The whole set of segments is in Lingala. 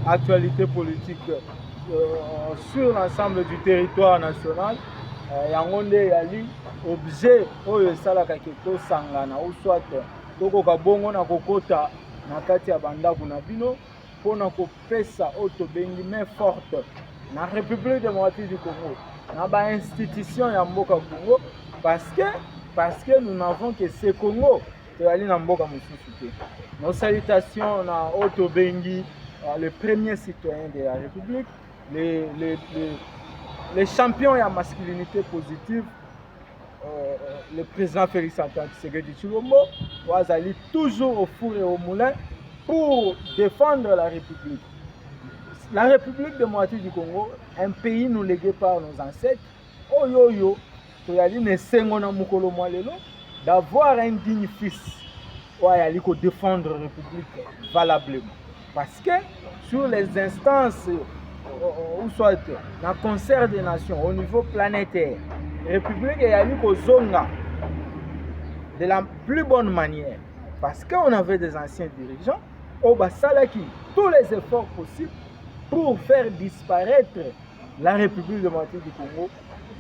actualité politique euh, sur l'ensemble du territoire national euh, yango nde eyali objet oyo esalaka ke tosangana ou soit tokoka bongo na kokota na kati ya bandako na bino mpo na kopesa oyo tobengi main forte na république démocratique du congo na bainstitution ya mboka congo parce que parce que nous n'avons que ce congo toyali na mboka mosusu te nos salutations na oyo tobengi euh, le premier citoyen de la république les, les, les, les champions ya masculinité positive euh, euh le président félix antoine tshisekedi tshilombo oyo azali toujours au four et au moulin pour défendre la république la république démocratique du congo un pays nous légué par nos ancêtres oyo oyo toyali na esengo na mokolo mwa lelo d'avoir un digne fils oyo ayali kodefendre république valablement parce que sur les instances euh, ou soit na concert des nations au niveau planétaire république eyali kozonga de la plus bonne manière parce qu'on avait des anciens dirigeants oyo basalaki tous les efforts possibles pour faire disparaître la République démocratique du Congo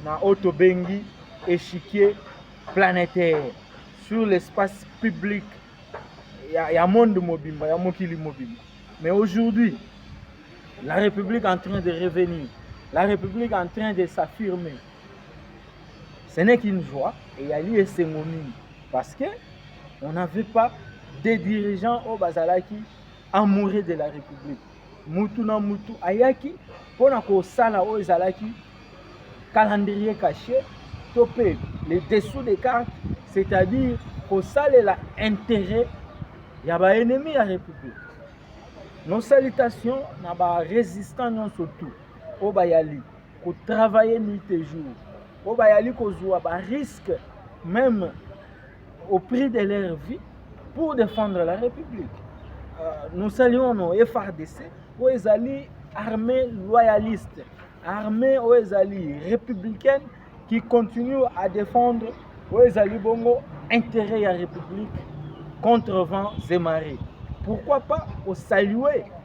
na oyo tobengi échiquier planétaire sur l'espace public ya, ya monde mobimba ya mokili mobimba mais aujourd'hui la République en train de revenir la République en train de s'affirmer ce n'est qu'une joie eyali esengo mingi parce que on n'avait pas des dirigeants oyo bazalaki amoureux de la république mutu na mutu ayaki mpo na kosala oyo ezalaki calendrier caché to mpe le dessous des cartes c'est-à-dire kosalela intérêt ya baennemi ya république nos salutations na barésistant nyonso tout oyo bayali ko travailler nuit et jour po bayali kozwa ba risque même au prix de leur vie pour défendre la république euh, nous saluons nos frdc oyo ezali armée loyaliste armée oyo ezali républicaine qui continue à défendre oyo ezali bongo intérêt ya république contre vent zemare pourquoi pas kosalue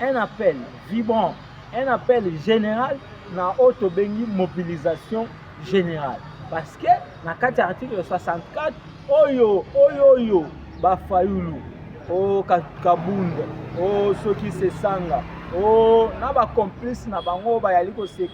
un appel vibrant, un appel général na oyo tobengi mobilisation générale parce que na kati ya article 64 oyo oyo oyo bafayulu o kabunda o soki sesanga o na bacomplice na bango oyo bayali kose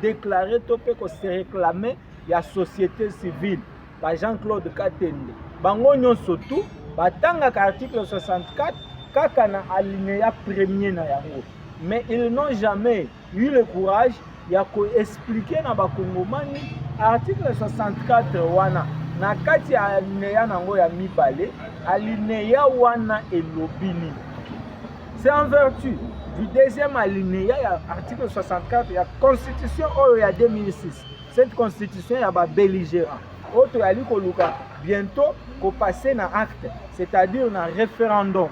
déclare to mpe kose réclame ya société civile ba Jean Claude Katende bango nyonso tu batangaka article 64 kaka na alinéa premier na yango mais ils n'ont jamais eu le courage ya koexplike na bakongomani article 64 wana na kati ya alineya na yango ya mibale alineya wana elobi nini c'est en vertu du deuxième alineya ya article 64 ya constitution oyo ya 2006 Cette constitution ya ba belligérants oyo toyali koluka bientôt kopase na acte c'est-à-dire na référendum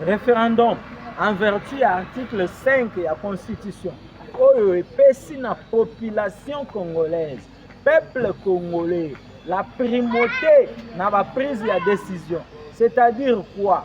référendum en vertu ya article 5 ya constitution oyo epesi na population congolaise peuple congolais la primauté na ba prise ya décision c'est-à-dire quoi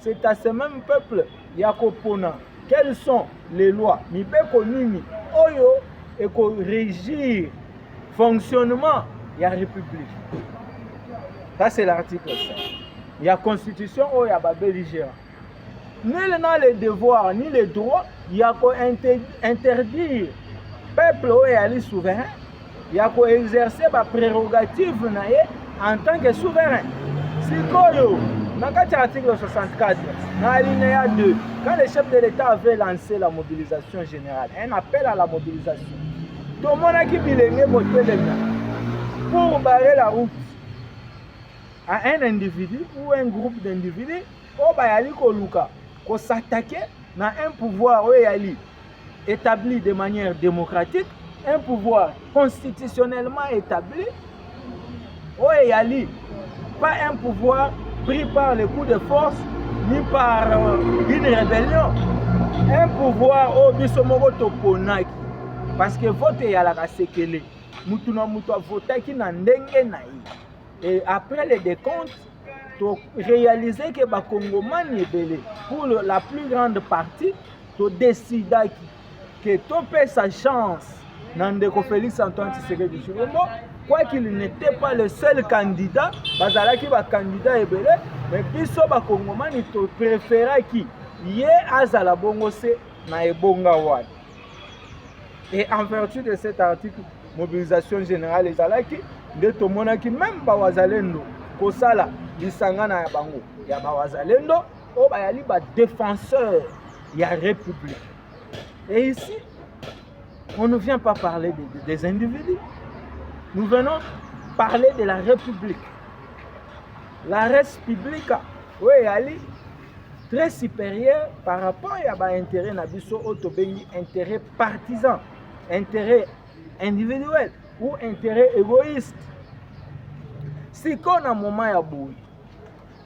c'est à ce même peuple ya kopona quelles sont les lois mibeko nini oyo ekorégir fonctionnement ya république ça c'est l'article 5 ya constitution oyo ya babelligérant nul n'a le devoir ni le droit ya kointerdire peuple oyo eyali souverain ya ko exercer ba prerogatives na ye en tant que souverain. Sikoyo na kati ya article 64 na alinéa 2 quand le chef de l'État avait lancé la mobilisation générale, un appel à la mobilisation. Tomonaki bilenge kotelema pour barrer la route à un individu ou un groupe d'individus oyo bayali koluka kosatake na un pouvoir oyo eyali etabli de manière démocratique un pouvoir constitutionnellement établi oyo eyali pas un pouvoir pris par le coup de force ni par euh, une rébellion un pouvoir oyo biso moko toponaki parce que vote eyalaka sekele motu na motu avotaki na ndenge na ye et après le décompte to réaliser que ba congomani ebele pour la plus grande partie to décidaki que topesa chance na ndeko Félix Antoine Tshisekedi Tshilombo quoi qu'il n'était pas le seul candidat bazalaki ba candidat ebele mais biso ba congomani to préféraki ye azala bongo se na ebonga wana et en vertu de cet article mobilisation générale ezalaki nde tomonaki meme bawazalendo kosala lisangana ya bango ya bawazalendo oyo bayali badefenseur ya république et ici on ne vient pas parler des, des individus nous venons parler de la république la res publica oyo eyali très supérieur par rapport ya ba intérêt na biso oyo tobengi intérêt partisan intérêt individuel ou intérêt égoïste sikoyo na moment ya boye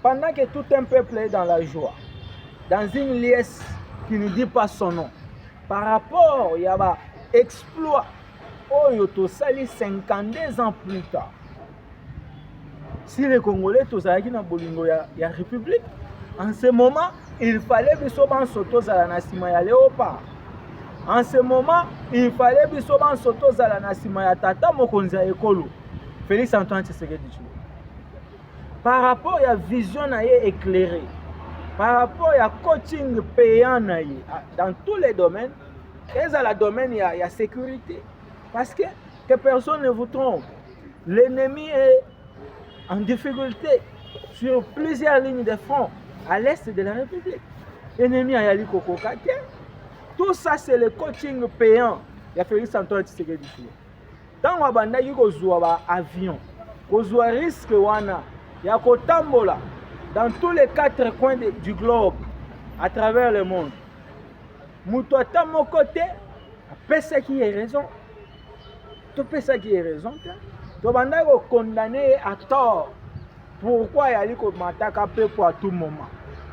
pendant que tout un peuple est dans la joie dans une liesse qui ne dit pas son nom par rapport ya ba exploit oyo tosali 52 ans plus tard si les congolais tozalaki na bolingo ya, ya république en ce moment il fallait biso banso tozala na nsima ya leopa en ce moment il fallait biso banso tozala na nsima ya tata mokonzi ya ekolo félix antoine tshisekedi tshilo par rapport ya vision na ye éclairée par rapport ya coaching payant na ye ah, dans tous les domaines ezala domaine ya, ya sécurité parce que que personne ne vous trompe L'ennemi est en difficulté sur plusieurs lignes de front à l'est de la République. Ennemi ayali kokoka te. Tout ça c'est le coaching payant ya Félix Antoine Tshisekedi. Ntango abandaki kozwa ba avion, kozwa risque wana ya kotambola dans tous les quatre coins de, du globe à travers le monde, moto ata moko te apesaki ye raison. topesaki ye raison te tobandaki kokondane ye à tort pourkui ayali komataka mpepo à tout moment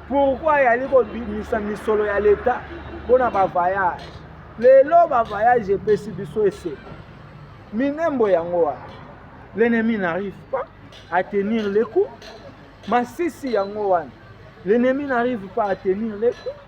pourkui ayali kobimisa misolo ya leta mpo na bavayage lelo bavayage epesi biso eseko minembo yango wana l'ennemi n'arrive pas à tenir le coup masisi yango wana l'ennemi n'arrive pas à tenir le coup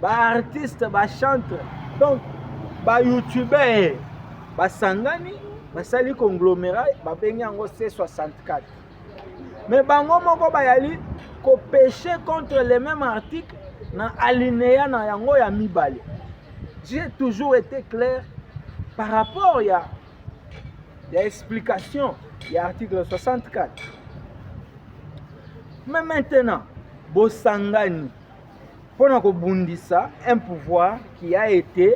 ba artiste ba chantre donc ba youtubeur basangani basali conglomerat babengi yango c64 mais bango moko bayali kopeche contre le même article na alinéa na yango ya mibale j'ai toujours été clair par rapport ya ya explication ya article 64 mais maintenant bosangani mpo na kobundisa un pouvoir qui a été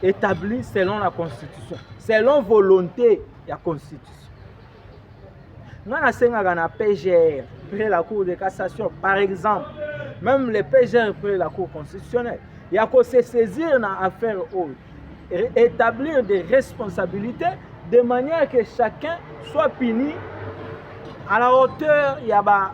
établi selon la constitution selon volonté ya constitution ngai nasengaka na pgr près la cour de cassation par exemple même le pgr près la cour constitutionnelle ya ko se saisir na affaire oyo établir des responsabilités de manière que chacun soit puni à la hauteur ya ba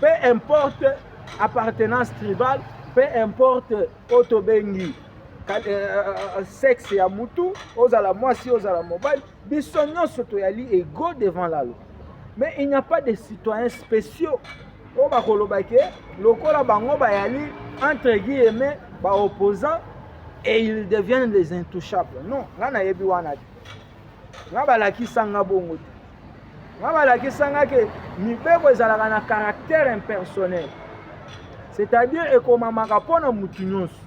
peu importe appartenance tribale peu importe oyo tobengi euh, euh, euh, sexe ya mutu ozala mwasi ozala mobali biso nyonso toyali ego devant la loi mais il n'y a pas de citoyens spéciaux oyo bakoloba ke lokola bango bayali entre guillemets baopposant et ils deviennent les intouchables non ngai nayebi wana te nga balakisa nga bongo te nga balakisa nga ke mibeko ezalaka na caractère impersonnel c'est-à-dire ekomamaka mpo na motu nyonso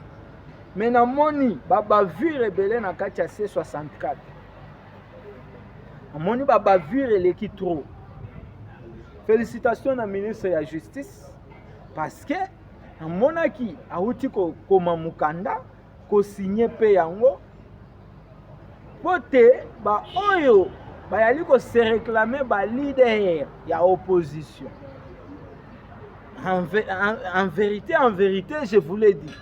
me namoni babavire ebele na kati ya c 64 namoni babavire eleki trop félicitation na ministre ya justice parce que namonaki awuti kokoma mokanda kosigne mpe yango mpo te baoyo bayali kose reklame balider ya opposition en, en, en verité en verité je vous l'ai dit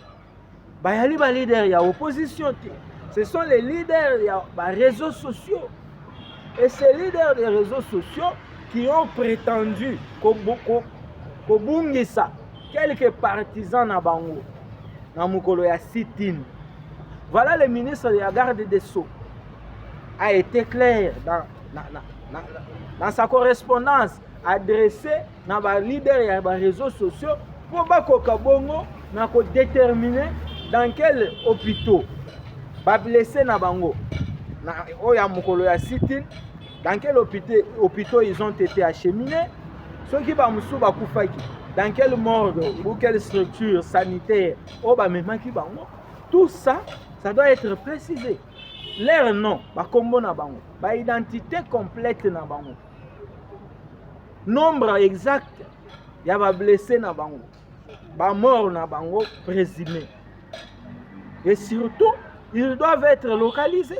bayali balider ya opposition te ce sont les leaders ya baréseaux sociaux et ces leaders des réseaux sociaux qui ont prétendu kobungisa ko, ko quelques partisans na bango na mokolo ya sit-in voilà le ministre de la garde des sceaux a été clair dans, na, na, na, dans sa correspondance adressée na ba leader ya ba réseaux sociaux mpo bakoka bongo na kodetermine dans quel hôpitaux bablesse na bango na oyo ya mokolo ya sit-in Dans quel hôpital, hôpital ils ont été acheminés soki bamosusu bakufaki dans quelle morgue ou quelle structure sanitaire oyo bamemaki bango tout ça ça doit être précisé leur nom bakombo na bango baidentité complète na bango nombre exact ya bablesse na bango bamort na bango présumé et surtout ils doivent être localisés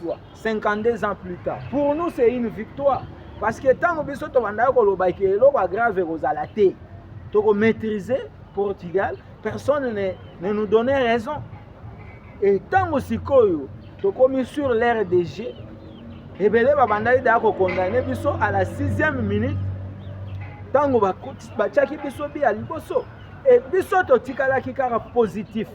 toi 52 ans plus tard pour nous c'est une victoire parce que ntango biso tobandaki koloba ke eloko ya grave ekozala te tokomaîtrise portugal personne ne, ne nous donnait raison e ntango sikoyo tokomi sur l'air de jeu ebele babandaki daya kokondane biso à la sixième minute ntango batiaki biso biya liboso e biso totikalaki kaka positif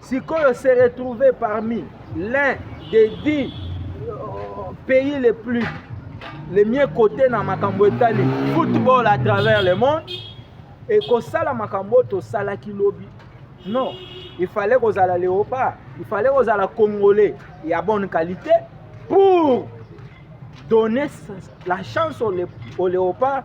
sikoyo se retrouver parmi l'un des dix euh, pays les plus les mieux cotés na makambo etali football à travers le monde ekosala makambo oyo tosalaki lobi non il fallait kozala léopard il fallait kozala congolais ya bonne qualité pour donner la chance au, lé au léopard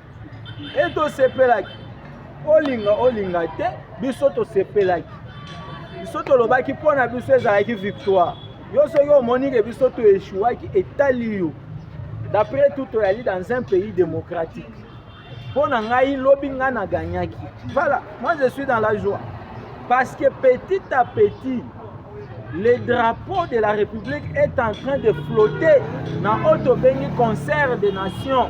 e tosepelaki olinga olinga te biso tosepelaki biso tolobaki mpo na biso ezalaki victoire yo soki omoni ke biso toeshuwaki etali yo d'après tout toyali dans un pays démocratique mpo na ngai lobi ngai na gagnaki voilà moi je suis dans la joie parce que petit à petit le drapeau de la république est en train de flotter na oyo tobengi concert de nation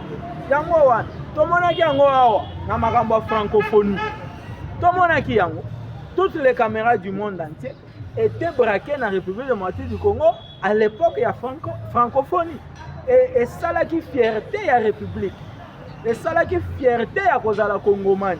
yango wana tomonaki yango awa na makambo ya francophonie tomonaki yango toutes les caméras du monde entier étaient braquées na république démocratique du congo à l'époque ya franco, francophonie e esalaki fierté ya république esalaki fierté ya kozala kongomani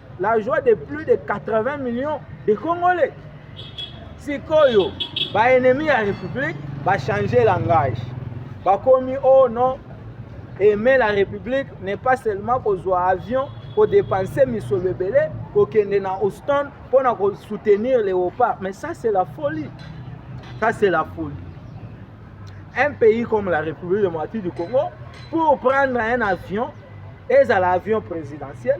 la joie de plus de 80 millions de congolais sikoyo baennemi ya république bachange langage bakomi o oh non aimer la république n'est pas seulement kozwa avion kodepense misolo ebele kokende na houston mpo na kosoutenir léopard mais ça c'est la folie ça c'est la folie un pays comme la république démocratique du congo pour prendre un avion ezala avion présidentiel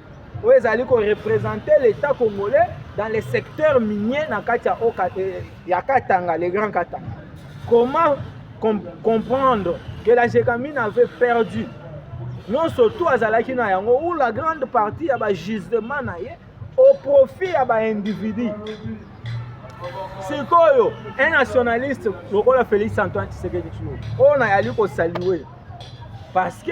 oyo ezali ko representer l'État congolais dans les secteurs miniers na kati ya oka eh, ya Katanga le Grand Katanga comment com comprendre que la Gécamine avait perdu nyonso tout azalaki na yango ou la grande partie ya ba gisement na ye au profit ya ba individu sikoyo un nationaliste lokola Félix Antoine Tshisekedi Tshilombo oyo nayali kosalue parce que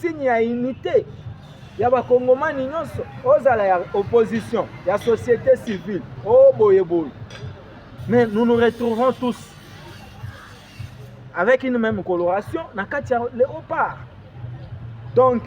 signe ya unité ya bakongomani nyonso ozala ya opposition ya société civile o oh, boye boye mais nous nous retrouverons tous avec une même coloration na kati ya léopard donc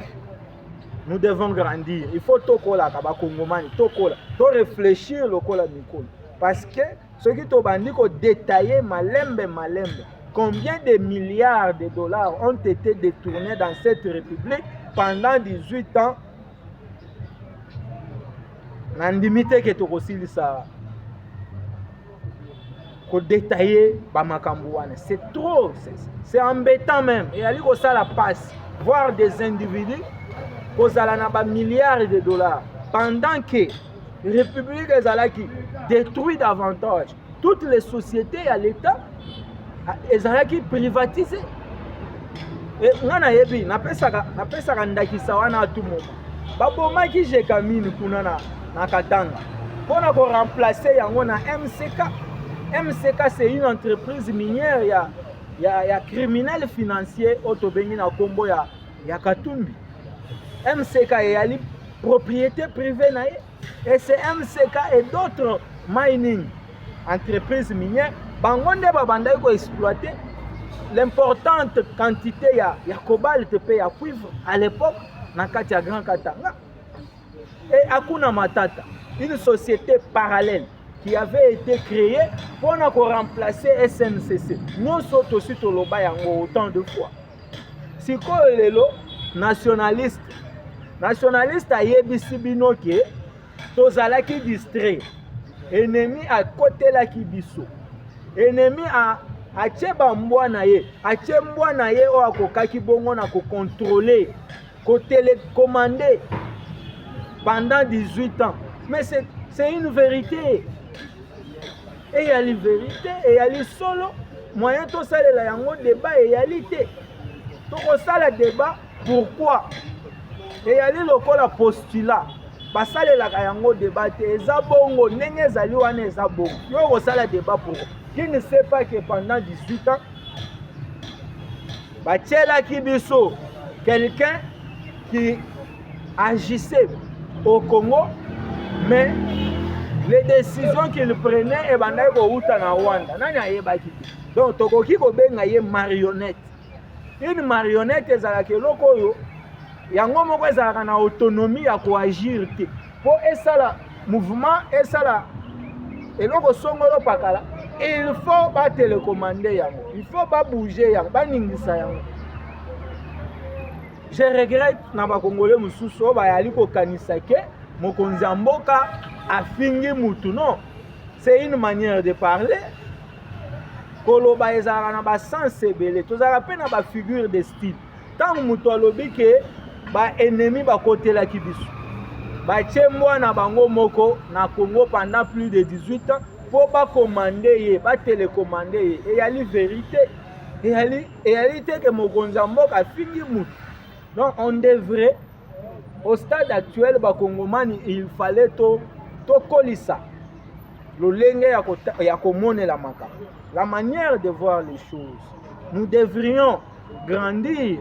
nous devons grandir il faut tokolaka bakongomani tokola to réfléchir lokola mikolo parce que soki tobandi kodetaille malembe malembe combien de milliards de dollars ont été détournés dans cette république pendant 18 ans nandimi te ke tokosilisa kodetaille bamakambo wana c'est trop c'est embêtant même eyali kosala passe voir des individus kozala na bamilliards de dollars pendant que République ezalaki détruit davantage. Toutes les sociétés à l'État ezalaki privatisé. Nga nayebi napesaka napesaka ndakisa wana atu moma babomaki jekamine kuna na, na Katanga mpo na ko remplacer yango na MCK. MCK c'est une entreprise minière ya ya, ya criminel financier oyo tobengi na nkombo ya ya katumbi mck eyali propriété privée na ye et c'est mck et d'autres mining entreprise minière bango nde babandaki koexploite l'importante quantité ya, ya cobalt mpe ya cuivre à l'époque na kati ya grand katanga et akuna matata une société parallèle qui avait été créée pour remplacer SNCC. Nous sommes aussi au Loba Yango autant de fois. sikoyo lelo nationaliste nationaliste ayebisi bino ke tozalaki distrait enemi akotelaki biso enemi a atie bambwa na ye atie mbwa na ye oyo akokaki bongo na kokontrole kotelekomande pendant 18 ans mais c'est une vérité eyali verite eyali solo moyen tosalela yango debat eyali te tokosala debat pourquoi eyali lokola postula basalelaka yango debat te eza bongo ndenge ezali wana eza bongo yo okosala debat pourquoi qui ne sait pas que pendant 18 ans batielaki biso quelqu'un qui agissait au Congo, mais les décisions qu'il prenait ebandaki kowuta na Rwanda. Nani ayebaki te. Donc tokoki kobenga ye marionnette. Une marionnette ezalaka eloko oyo yango moko ezalaka na autonomie ya koagir te mpo esala mouvement esala eloko songolo pakala il faut batelekomande yango il faut babouge yango baningisa yango Je regrette na bakongole mosusu oyo bayali kokanisa ke mokonzi ya mboka afingi mutu non c'est une manière de parler koloba ezalaka na basens ebele tozalaka mpe na bafigure de style ntango moto alobi ke baennemi bakotelaki biso batye mbwa na bango moko na congo pendant plus de 18 ans mpo bakomande ye batelekomande ye eyali verite eyali eyali te ke mokonzi ya mboka afingi motu donc on devrait au stade actuel bakongomani il fallait to tokolisa lolenge ya komonela makambo la manière de voir les choses nous devrions grandir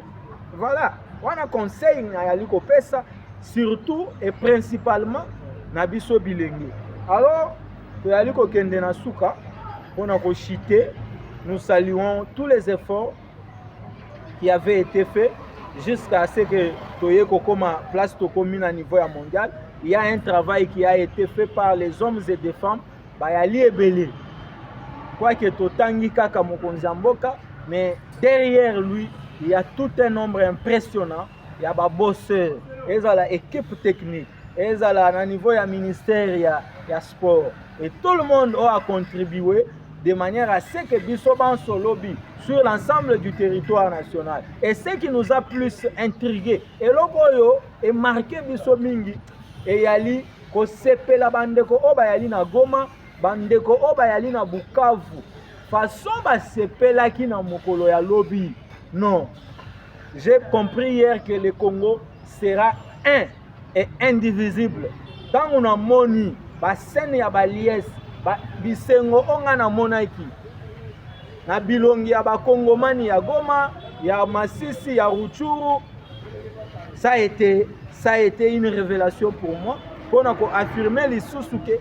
voilà wana conseil nayali kopesa surtout et principalement na biso bilenge alors toyali kokende na suka mpo na kochite nous saluons tous les efforts qui avaient été faits jusqu'à ce que toye kokoma place tokomi na niveau ya mondial il y a un travail qui a été fait par les hommes et des femmes bayali ebele quoique totangi kaka mokonzi ya mboka mais derrière lui il y a tout un nombre impressionnant ya babosseur ezala équipe technique ezala na niveau ya ministère ya, ya sport et tout le monde oyo acontribue de manière à ce que biso banso lobi sur l'ensemble du territoire national et ce qui nous a plus intrigué eloko oyo emarke biso mingi eyali kosepela bandeko oyo bayali na goma bandeko oyo bayali na bukavu façon basepelaki na mokolo ya lobi non j'ai compris hier que le congo sera un et indivisible ntango namoni basene ya baliese ba, bisengo oyo ngai namonaki na bilongi ya bakongomani ya goma ya masisi ya ruchuru ça a été ça a été une révélation pour moi mpo na koaffirme lisusu ke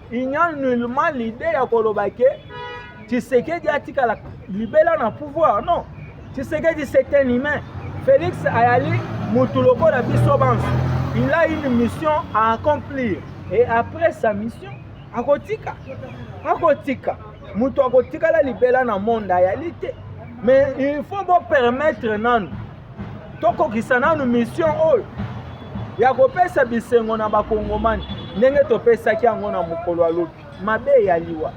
il n'y a nullement l'idée ya koloba ke Tshisekedi atikala libela na pouvoir non Tshisekedi c'est un humain Félix ayali mutu lokola biso banso il a une mission à accomplir et après sa mission akotika akotika mutu akotikala libela na monde ayali te mais il faut bopermettre nanu tokokisa nanu mission oyo ya kopesa bisengo na bakongomani ndenge topesaki yango na mokolo ya lobi mabe ya liwa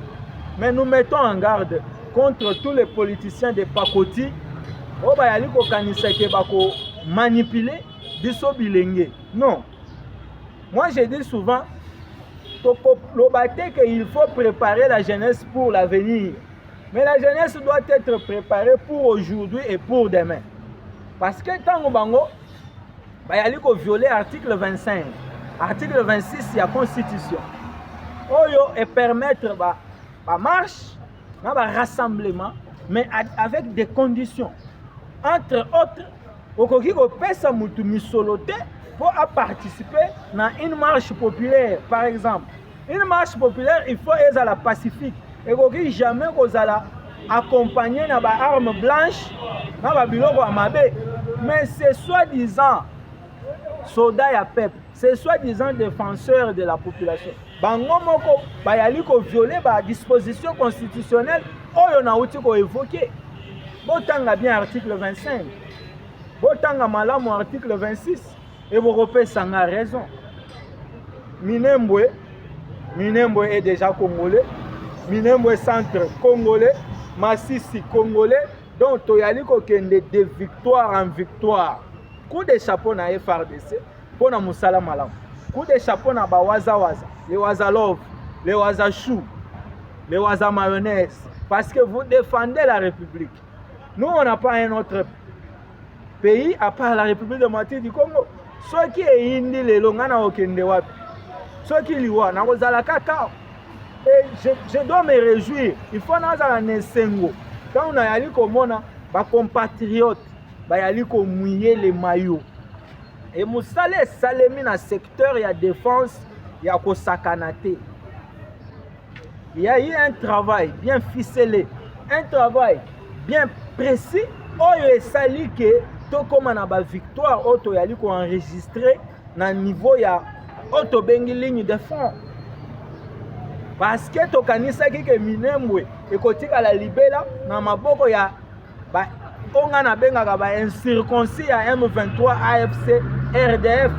mais nous mettons en garde contre tous les politiciens de pakoti oyo bayali kokanisa ke bakomanipule biso bilenge non moi je dis souvent tokoloba te ke il faut préparer la jeunesse pour l'avenir Mais la jeunesse doit être préparée pour aujourd'hui et pour demain. Parce que ntango bango bayali kovioler article 25 article 26 ya constitution oyo epermettre ba, ba marche na ba rassemblement mais avec des conditions entre autres okoki kopesa motu misolo te mpo aparticipe na une marche populaire par exemple Une marche populaire il faut ezala pacifique, ekoki jamais kozala accompagné na ba armes blanches na ba biloko ya mabe, mais c'est soi-disant soda ya peuple, c'est soi-disant défenseur de la population. Bango moko bayali ko violer ba dispositions constitutionnelles oyo nauti ko évoquer. Botanga bien article 25, botanga malamu article 26. Et vous refaites ça a raison. Minembwe, Minembwe est déjà congolais. Minembwe centre congolais. Massissi congolais. Donc toyali kokende de victoire en victoire. Coup de chapeau na FRDC mpo na mosala malamu. Coup de chapeau na bawazawaza, les wazalov, les wazachou, les waza mayonnaise parce que vous défendez la République. Nous, on n'a pas un autre pays à part la République démocratique du Congo. soki eyindi lelo ngai nakokende wapi soki liwa nakozala kaka et je, je dois me réjouir il faut nazala na esengo ntango nayali komona bacompatriote bayali komwiye le mayo e mosala esalemi na secteur ya défense ya kosakana te Il y a eu un travail bien ficelé, un travail bien précis oyo esali ke tokóma na bavictoire oyo toyali koenregistre na niveau ya oyo tobengi ligne de fond parce que tokanisaki ke minembwe ekotikala libela na maboko ya ba oyo ngai nabengaka ba incirconcis ya m23 afc rdf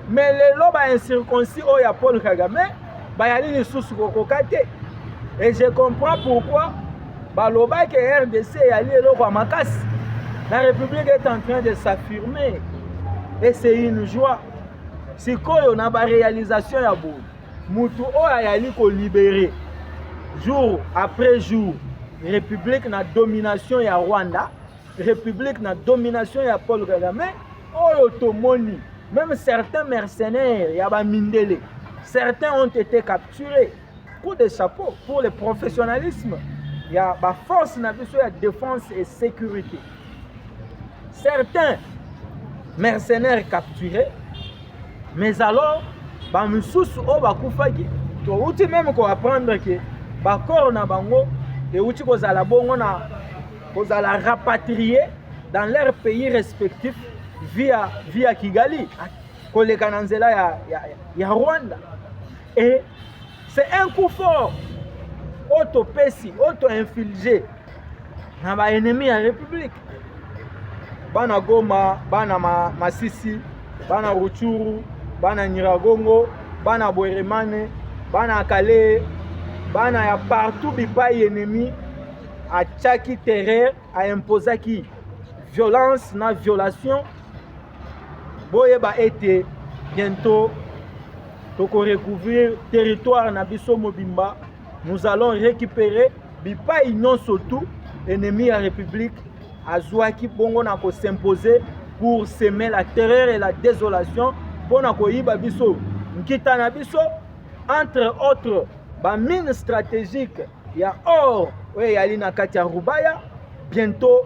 mais lelo ba incirconcis oyo ya paul kagame bayali lisusu kokoka te et je comprends pourquoi balobaki rdc eyali eloko ya makasi la république est en train de s'affirmer et c'est une joie sikoyo na baréalisation ya boye mutu oyo ayali ko libere jour après jour république na domination ya Rwanda république na domination ya Paul Kagame oyo tomoni même certains mercenaires ya ba mindele certains ont été capturés coup de chapeau pour le professionnalisme ya ba force na biso ya défense et sécurité Certains mercenaires capturés, mais alors bamosusu oyo bakufaki touti meme koapprendre ke bakoro na bango euti kozala bongo na kozala rapatrie dans leur pays respectif via, via kigali koleka na nzela ya, ya, ya rwanda e C'est un coup fort oyo topesi oyo to infilge na ba ennemis ya République bana Goma bana ma, Masisi bana Ruchuru bana Nyiragongo bana Bweremane bana Kale bana ya partout bipai ennemi atyaki terreur aimposaki violence na violation boyeba ete bientôt toko recouvrir territoire na biso mobimba nous allons récupérer bipai nyonso tout ennemi ya république azwaki bongo na kosimpose pour semer la terreur et la désolation mpo na koyiba biso nkita na biso entre autres bamine stratégique ya or oyo eyali na kati ya rubaya bientôt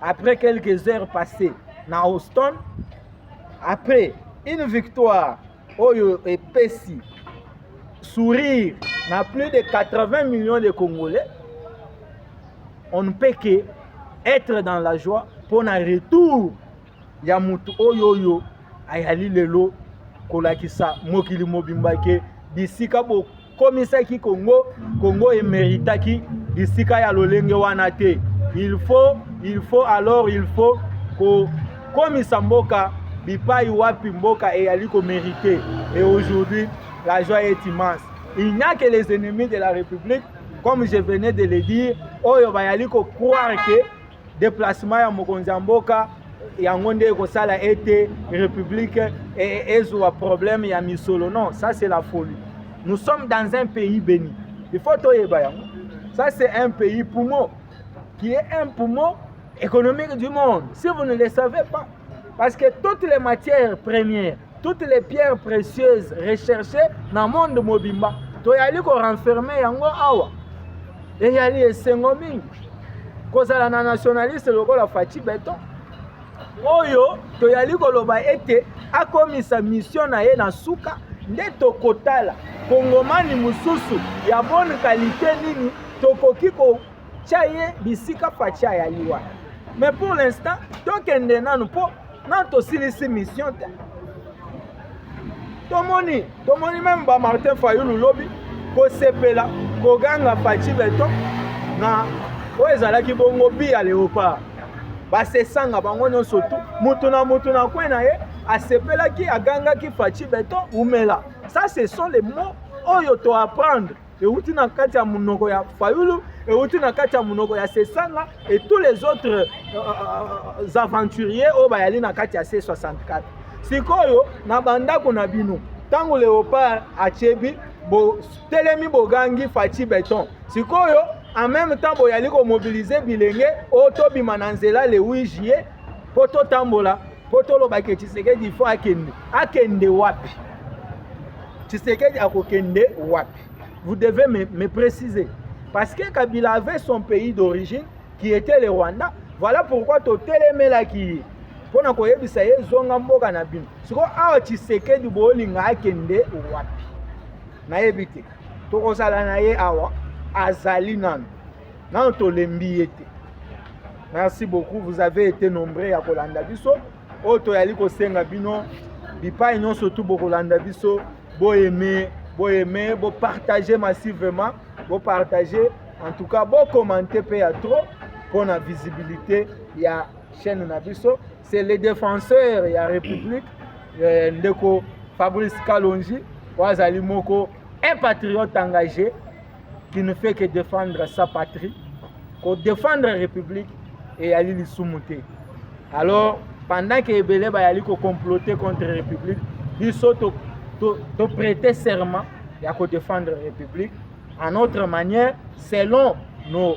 Après quelques heures passées na Houston, après une victoire oyo epesi sourire na plus de 80 millions de Congolais, on ne peut que être dans la joie pour un retour ya mutu oyo oyo ayali lelo kolakisa mokili mobimba ke bisika komisaki Congo Congo emeritaki bisika ya lolenge wana te il faut il faut alors il faut kokomisa mboka bipai wapi mboka eyali komerite et aujourd'hui la joie est immense il n'y a que les ennemis de la république comme je venais de le dire oyo bayali ko croire que Deplacement ya mokonzi ya mboka yango nde ekosala ete république e, e, ezwa problème ya misolo non ça c'est la folie nous sommes dans un pays béni il faut toyeba yango ça c'est un pays poumon qui est un poumon économique du monde si vous ne le savez pas parce que toutes les matières premières toutes les pierres précieuses recherchées na monde mobimba toyali korenferme yango awa eyali esengo mingi kozala na nationaliste lokola faci beton oyo toyali koloba ete akomisa misio na ye na suka nde tokotala kongomani mosusu ya bone kalite nini tokoki kotya ye bisika faci ayali wana mais pour l'instant tokende nanu mpo na tosilisi mission te tomoni tomoni meme ba martin fayulu lobi kosepela koganga faci beton na oyo ezalaki bongo bi ya leopard basesanga bango nyonso tu motu na motu na kwe na ye asepelaki agangaki faci beton umela ça ce sont les mots oyo to apprendre euti na kati ya monoko ya fayulu euti na kati ya monoko ya sesanga et tous les autres euh, euh, euh aventuriers oyo bayali na kati ya c64 sikoyo na bandako na bino ntango leopard atyebi botelemi bogangi faci beton sikoyo en même temps boyali komobilize bilenge oyo tobima na nzela le 8 juillet mpo totambola mpo toloba ke tshisekedi ifo akende akende wapi tshisekedi akokende wapi vous devez me, me préciser parce que kabila avait son pays d'origine qui était le rwanda voilà pourquoi totelemelaki ye mpo na koyebisa ye zonga mboka na bino sikoyo awa tshisekedi bolinga akende wapi nayebi te tokozala na ye awa azali nano nano tolembi ye te merci beaucoup vous avez été nombreux ya kolanda biso oyo toyali kosenga bino bipai nyonso tu bokolanda biso boyeme boyeme bopartage massivement bopartage en tout cas bocommente mpe ya trop mpo na visibilité ya chaîne na biso c'est le défenseur ya république eh, ndeko fabrice kalonji oyo azali moko un patriote engagé qui ne fait que défendre sa patrie ko défendre république eyali lisumu te alors pendant que ebele bayali ko comploter contre république biso to, to, to prêter serment ya ko défendre république en autre manière selon nos